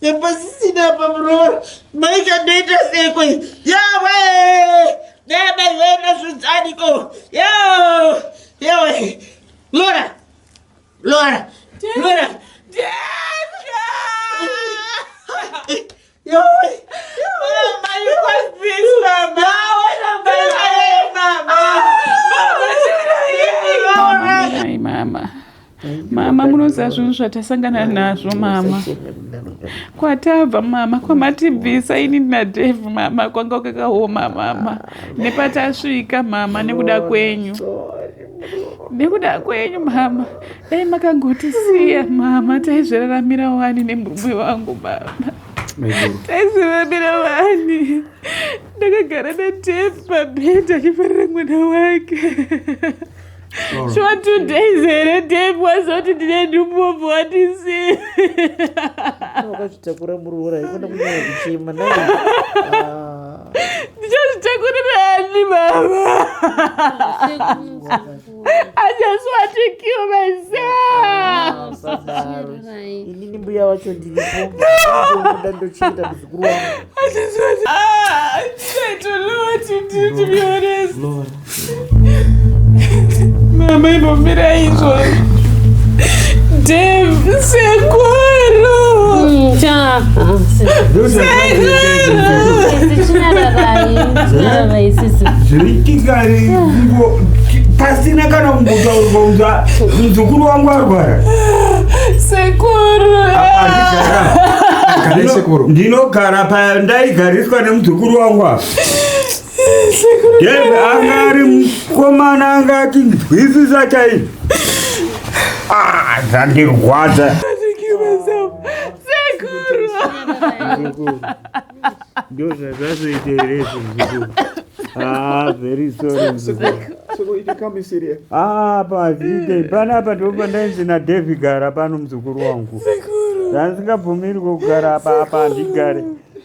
Yapasisina pa muroro. Mai kandoita seko. Yawe! Dada yena zvidzaniko. Yawe! Yawe! Lora! Lora! Lora! Lora! mama munoziva zvinhu zvatasangana nazvo mama kwatabva mama kwamatibvisa ini nadave mama kwanga kwakaoma mama nepatasvika mama nekuda kwenyu nekuda kwenyu mama dai makangotisiya mama taizviraramira wani nemumwe wangu mama taizviraramira wani ndakagara natep pabhedha achifarira mwana wake shuwa two days here tep wazoti ndine ndumbovu watisiya wakazvitakura muroora ikona kunyaya kuchema naye ah. ndichazvitakurirani mama i just want to kill myselfinini mbuya wacho ndiripoda ndochiita muzukuru wangu Mama inomira izvo. Dave sekuru. Mm, cha. Zviritikari ngo pasina kana kumbotaurwa unza muzukuru wangu arwara. Sekuru. Sekuru. Ndinogara pa ndaigariswa nemuzukuru wangu apa. Dave anga ari mukomana anga achinzwisisa chaizvo ah, zvandirwadza ndozvazvazoita here zvimzukuru Ah, very sorry mzukuru. Ah, pazite panapa ndipo pandainzi naDevi gara pano mzukuru wangu. Ndandisingabvumirwe kugara apa apa handigare.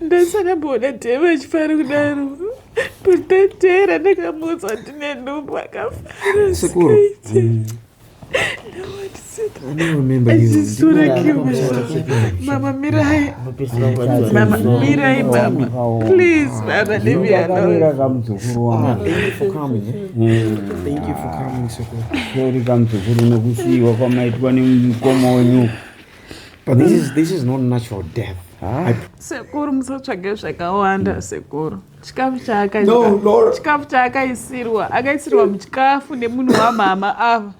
ndasakamboona dhevo achifara kudaro kutotera ndakamuudza kuti nenhumbu akafarasekaite mama mirai mama mirai mama please mama leave me alone kamuzukuru nokusiiwa kwamaitwa nemukoma wenyu But this is, this is not natural death. Ah. I... sekuru musatsvage zvakawanda hmm. sekuru chikafu chaakachikafu chaakaisirwa akaisirwa muchikafu nemunhu wamama ava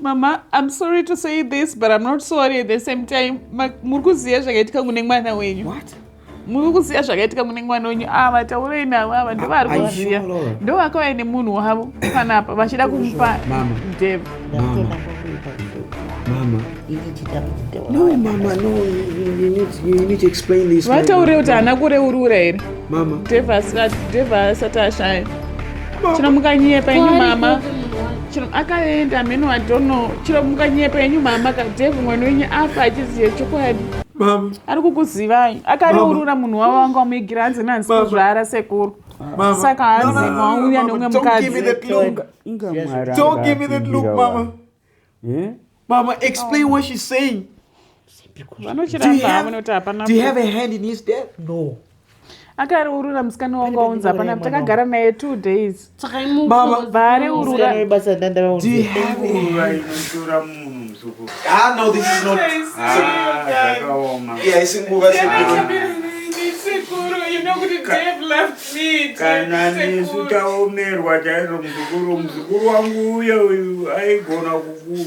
mama i'm sorry to say this but i'm not sorry at the same time muri kuziva zvakaitika kune mwana wenyu What? muri kuziva zvakaitika mune mwana wenyu ava ah, vataurei navo ava ndovari kuziva ndo vakauya nemunhu wavo panapa vachida kumupa dev vataure kuti haana kureurura here dev asati ashaya chino mukanyepa inyu mama chino akaenda mheno wadono chino mukanyepa inyu mama kadev mwana wenyu afa achiziva chokwadi ari kukuzivai akareurura munhu wavo vanga vamuigira hanzi nanzi kuzvara sekuru saka hanzi mauya nomwe mukadzimama eh? mama explain what she's saying vanochiramba havona kuti hapana akareurura musikana wangu aunzi hapana takagara naye two days vaareururabasa kana nisu taomerwa chaizvo muzukuru muzukuru wangu uye uyu aigona kuku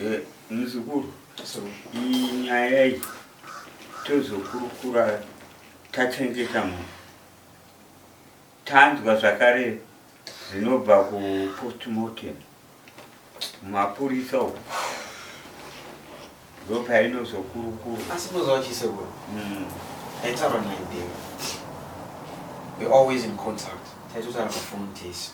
Eh, muzukuru iyi nyaya yayi tozokurukura tachengeta munhu tanzwa zvakare zvinobva kupostmortem mapurisa uku ndopainozokurukura asi muzowa chisekuru mm. aitaura naideo we always in contact taitotaura pafoni tese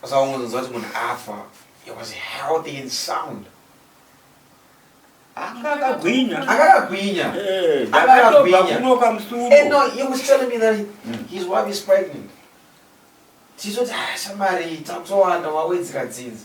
Saka ungonzwa kuti munhu afa he was healthy and sound akagwinya akagwinya eh, akagwinya no he was telling me that hmm. his wife is pregnant tizoti ah, shamari takutowanda wawedzera dzinza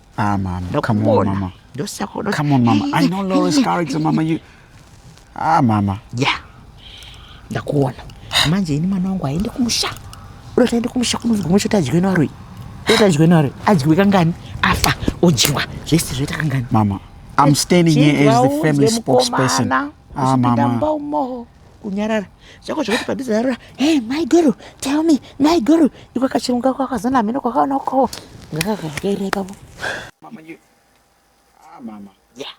Ah, mama. Ndokubona. Come on, mama. Ndosakona. Come on, mama. I know Laura's character, mama. You. Ah, mama. Yeah. Ndakuona. Manje ini mwana wangu aende kumusha. Uri kuenda kumusha kunovigwa mwe chota adyiwe naro. Chota adyiwe naro. Adyiwe kangani? Afa odyiwa. Zvese zvoita kangani? Mama. I'm standing here as the family spokesperson. Ah, mama. kunyarara zvako zvekuti padhuze yarura hey my guru tell me my guru iko kachirungu kako kakazona hameno kwakaona ukowo ngakakakaira ipapo mama you ah mama yeah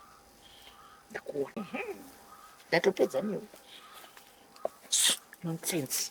ndakuona ndatopedza newe nonsense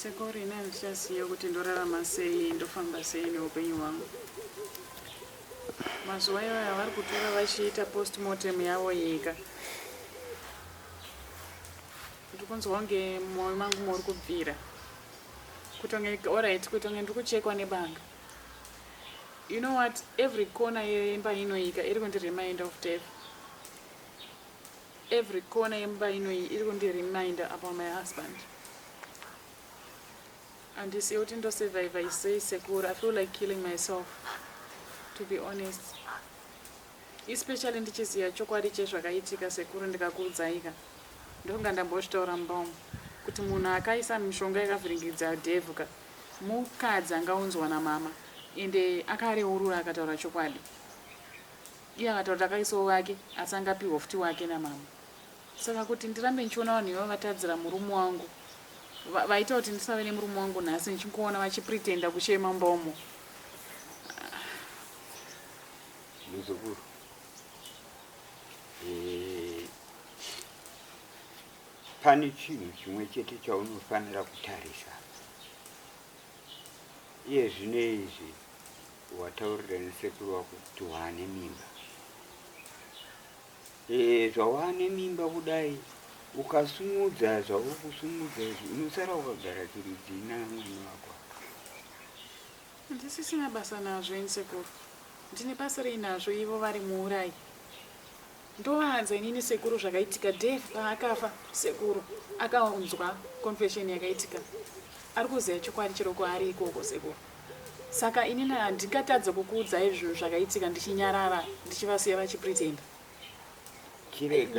sekuru ini handichasiya kuti ndorarama sei ndofamba sei neupenyu hwangu mazuva iwayo avari kutora vachiita postmortem yavo yega ndiri kunzwa kunge mwoyo mangu muri kubvira kutonge orit kutonge ndiri kuchekwa nebanga you know what every corner yemba inoika iri kundi remind of death Every corner yemba ino iyi iri kundi reminder about my husband. Handisiye kuti ndosurvivor sei sekuru. I feel like killing myself to be honest. Especially ndichiziva chokwadi chezvakaitika sekuru ndikakuudzaika. Ndokunga ndambozvitaura mumba umu kuti munhu akaisa mishonga yakavhiringidza devhu ka mukadzi angaunzwa namama ende akareurura akataura chokwadi. Iye akataura kuti akaisawo wake asi anga apihwa futi wake namama. Saka kuti ndirambe ndichiona vanhu ivava vatadzira murume wangu va, vaita kuti ndisave nemurume wangu nhasi ndichingoona vachipretenda kuchema mumba umo. Muzukuru. Eh, pane chinhu chimwe chete chaunofanira kutarisa iye zvine izvi Wataurira nesekuru wako kuti waane mimba. E, zvawaane mimba kudai ukasumudza zvauri kusumudza izvi unosara wakagara chirudzii namwana wako. Ndisisina basa nazvo ini sekuru. Ndine basa rei nazvo ivo vari muurayi? Ndovaanza inini sekuru zvakaitika Dave paakafa sekuru akaunzwa confession yakaitika ari kuziva chokwadi chero kwaari ikoko sekuru saka inini handingatadze kukuudzai zvinhu zvakaitika ndichinyarara ndichivasiya vachipretenda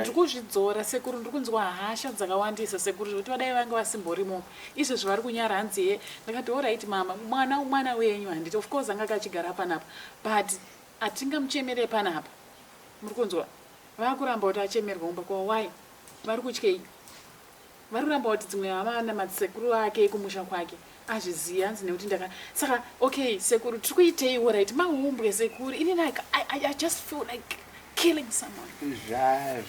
ndikuzvidzora sekuru ndiri kunzwa hasha dzakawandisa sekuru zvekuti vadai vange vasimborimo izvezvi vari kunyara hanzi ye ndakati orit mama mwana mwana wenyu handiti of course anga kachigara panapa but hatingamuchemere panapa Muri kunzwa? Vakuramba kuti achemerwa kumba kwavo. Why? Vari kutyei? Vari kuramba kuti dzimwe hama na madzisekuru ake kumusha kwake azvizivi hanzi nekuti ndaka saka okay sekuru tiri kuitei orit mahumbwe sekuru ini like I, I, I just feel like killing someone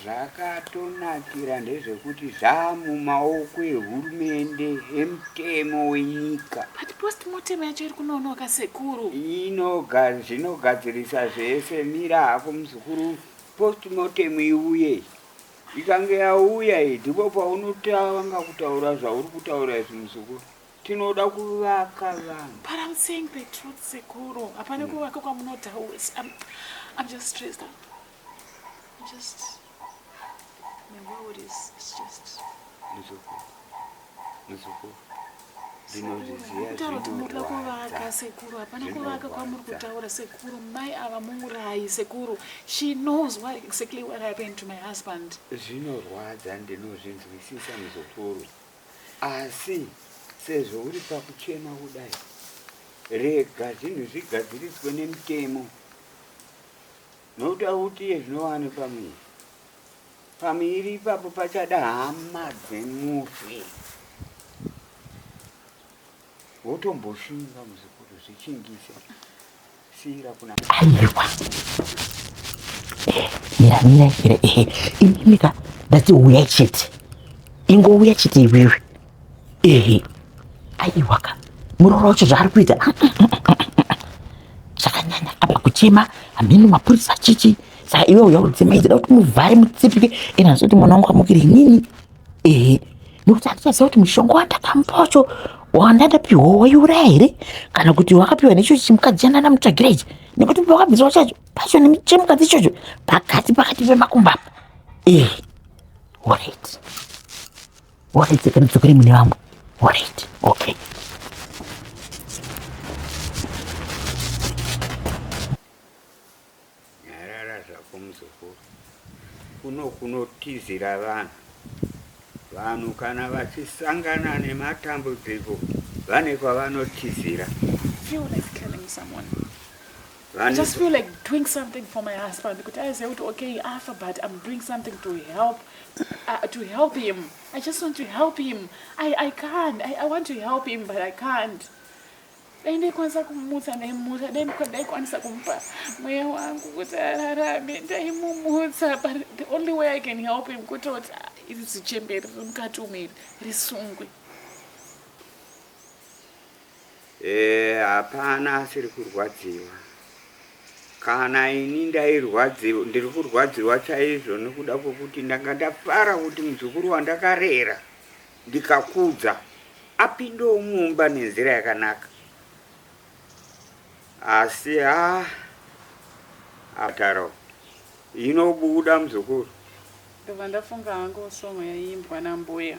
zvakatonakira zva ndezvekuti zvamumaoko ehurumende emutemo wenyika but Postmortem yacho iri kunonoka sekuru. Inoga zvinogadzirisa zvese mira hako muzukuru postmortem iuye. Ikange yauya iyi ndipo paunotanga kutaura zvauri kutaura izvi muzukuru. Tinoda kuvaka vanhu. But I'm saying the truth sekuru. Hapana kuvaka kwamunotaura. I'm, I'm just stressed out. I'm just My world is it's just Nzoko. Nzoko. Ndinozviziva kutaura kuti muri kuda kuvaka zvinorwadza. sekuru hapana kuvaka kwamuri Zvinorwadza. kutaura sekuru mai ava mungurayi sekuru she knows what exactly what happened to my husband zvinorwadza ndinozvinzwisisa muzukuru asi sezvo uri pakuchema kudai rega zvinhu zvigadziriswe nemutemo Nokuda kuti zvinowani pamuviri, pamuviri ipapo pachada hama dzemufi wotomboshinga muzukuru zvichingise siira kuna aiwa miramira here ehe imimika ndati uya chete ingouya chete iwewe ehe aiwaka muroora wacho zvaari kuita zvakanyanya apa kuchema hameno mapurisa chichi saka iwe uya udzimaidzida kuti muvhare mutsipike ena ndisi kuti mwana wangu amukiri inini ehe nekuti handichaziva kuti mushonga wandakamupa wacho wandadapiwa waiuraya here kana kuti wakapiwa necho chimukadzi chandanamutsvagira ichi nekuti pawakabviswa chacho pacho chemukadzi ichocho pakati pakati pemakumba apa ehe orit Alright, then mdzokere mune vamwe. Alright, okay. Nyarara zvako muzukuru. Kuno kunotizira vanhu. Vanhu kana vachisangana nematambudziko vane kwavanotizira. Feel like killing someone. I just feel like doing something for my husband kuti aiziva kuti okay afa but I'm doing something to help uh, to help him I just want to help him I, I can't I, I want to help him but I can't dai ndaikwanisa kumutsa ndaimutsa dai ndaikwanisa kumupa mweya wangu kuti ararame ndaimumutsa but the only way I can help him kuti kuti ah, iri zichemberi rimukati umeri risungwe Eh hapana asiri kurwadziwa. Kana ini ndairwadziwa ndiri kurwadziwa chaizvo nekuda kwekuti ndanga ndafara kuti muzukuru wandakarera ndikakudza apindewo mumba nenzira yakanaka. Asi ha ataro inobuda muzukuru. Ndobva ndafunga hangu song yaiimbwa nambuya.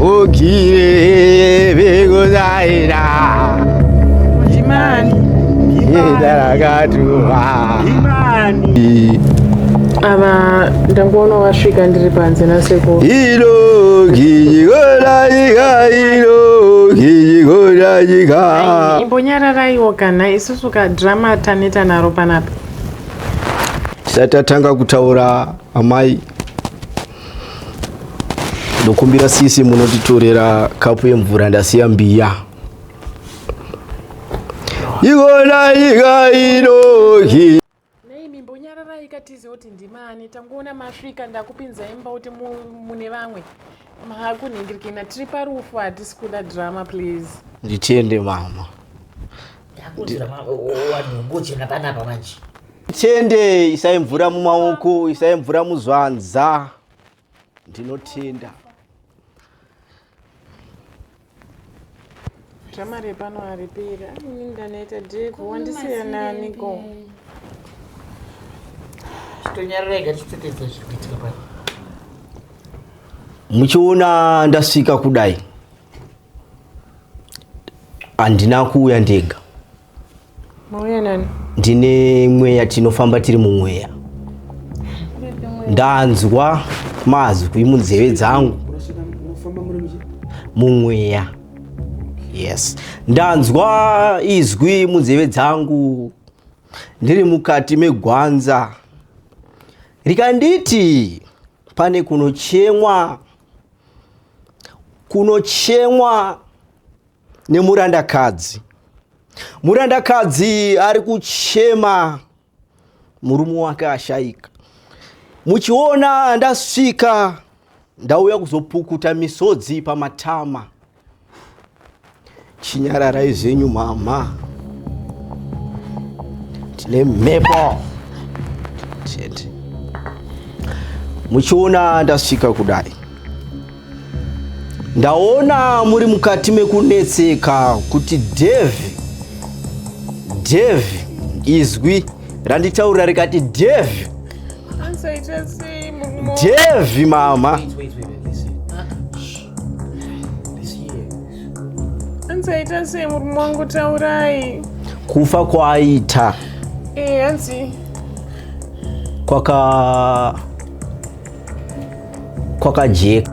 ukire vekuzaira imani idarakatuva imani ava ndangoona wasvika ndiri panze nasekuru ilo kijikorajika ilo kijikorajika imbonyararaiwo kana isusu kadrama taneta naro panapa tisati tatanga kutaura amai ndokumbira sisi munotitorera kapu yemvura ndasiya mbiya ikona nyika inohi tizive kuti ndimani tangoona masvika ndakupinza imba kuti mune vamwe makunhingirikina tiri parufu hatisi kuda drama please nditiende mama tende isai mvura mumaoko isai mvura muzvanza ndinotenda dramare pano aripera ini ndanoita dek wandisiyananiko tonyararega tichitetedza zviri kuitika pano muchiona ndasvika kudai handina kuuya ndega mauya nani ndine mweya tinofamba tiri mumweya ndanzwa mazwi munzeve dzangu mumweya yes ndanzwa izwi munzeve dzangu ndiri mukati megwanza rikanditi pane kunochemwa kunochemwa nemurandakadzi murandakadzi ari kuchema murume wake ashaika muchiona ndasvika ndauya kuzopukuta misodzi pamatama Chinyararai zvenyu mhamha. Tine mhepo. Chete. Muchiona ndasvika kudai. Ndaona muri mukati mekunetseka kuti Devi Devi izwi randitaurira rikati Devi Devi mama. Wait, wait, wait, wait, listen. hanzi aita sei murume wangu taurai kufa kwaaita eh, hanzi kwaka kwakajeka